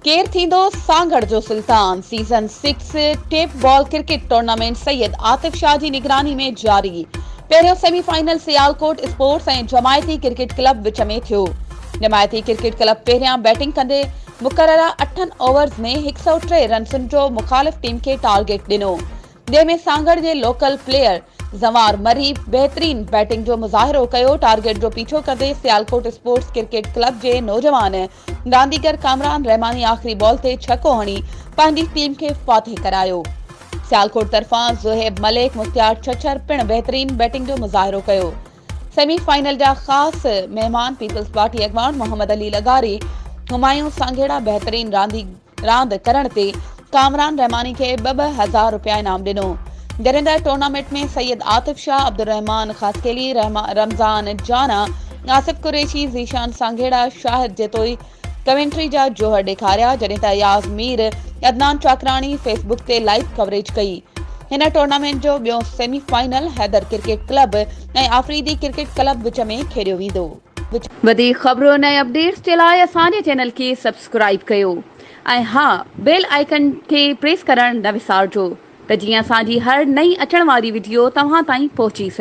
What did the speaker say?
ڪير ٿيندو سانگهڙ جو Sultan season six tape ball cricket tournament Syed Atif Shah جي نگراني ۾ جاري پهريون semi final Sialkot sports ۽ Jamati cricket club وچ ۾ ٿيو جماعتي ڪرڪيٽ ڪلب پهريان بيٽنگ ڪندي مقرره اٺن اوورز ۾ هڪ سؤ ٽي رنسن جو مخالف ٽيم کي ٽارگيٽ ڏنو جنهن ۾ سانگهڙ جي لوڪل پليئر زنوار مري بهترين بيٽنگ جو مظاهرو ڪيو، ٽارگيٽ جو پيڇو ڪندي سيالڪوٽ اسپورٽس ڪرڪيٽ ڪلب جي نوجوان رانديگر ڪامران رحماني آخري بال تي ڇڪو هڻي پنهنجي ٽيم کي فاتح ڪرايو، سيالڪوٽ طرفان زوهيب ملڪ، مختيار ڇڇر پڻ بهترين بيٽنگ جو مظاهرو ڪيو، سيمي فائنل جا خاص مهمان پيپلز پارٽي اڳواڻ محمد علي لغاري، همايون سانگهڙا بهترين رانديگر. راند ڪرڻ تي ڪامران رحماني کي ٻه ٻه هزار رپيا انعام ڏنو. گريندر ٽورنامينٽ ۾ سيد عاطف شاهه، عبدالرحمان خاصخيلي، رمضان جانا، آصف قريشي، ذيشان سانگهيڙا، شاهد جتوئي ڪمينٽري جا جوهر ڏيکاريا جڏهن ته اياز مير، عدنان چاڪراڻي فيس بڪ تي لائيو ڪوريج ڪئي. هن ٽورنامينٽ جو ٻيو semi final Haider cricket club ۽ Afridi cricket club وچ ۾ کيڏيو ويندو. وڌيڪ خبرون ۽ اپڊيٽس جي لاء اسان جي چينل کي سبسڪرائيب ڪيو ۽ ها بيل آئيڪن کي پريس ڪرڻ نه وسارجو ته جيئن اسان جي هر نئين اچڻ واري وڊيو توهان تائين پهچي سگهي.